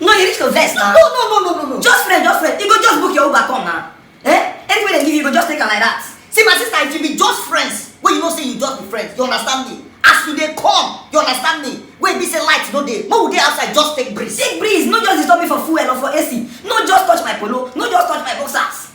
No, you need to vex now. No, no, no, no, no, no. Just friend, just friend. You go just book your Uber come now. Eh? Anyway they give you, you go just take am like that. See my sister, if you be just friends, wey you know say you just be friends, you understand me? As you dey come, you understand me? Wey be say light no dey, make we dey outside just take breeze. Take breeze, no just disturb me for fuel or for AC. No just touch my polo, no just touch my boxers.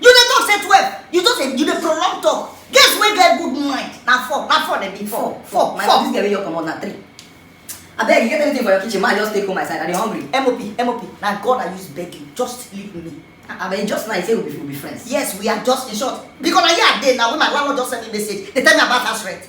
you dey talk say twelve you just dey you dey prolong talk girls wey get good mind na four na four dem be four four my four. this girl wey you comot na three abeg you get anything for your kitchen ma i just take go my side i dey hungry. mop mop na god i use beg you just leave me. abeg ah, ah, just now you say we be, we be friends. yes we are just in short because na here i dey na when my landlord just send me message dey tell me about house rent.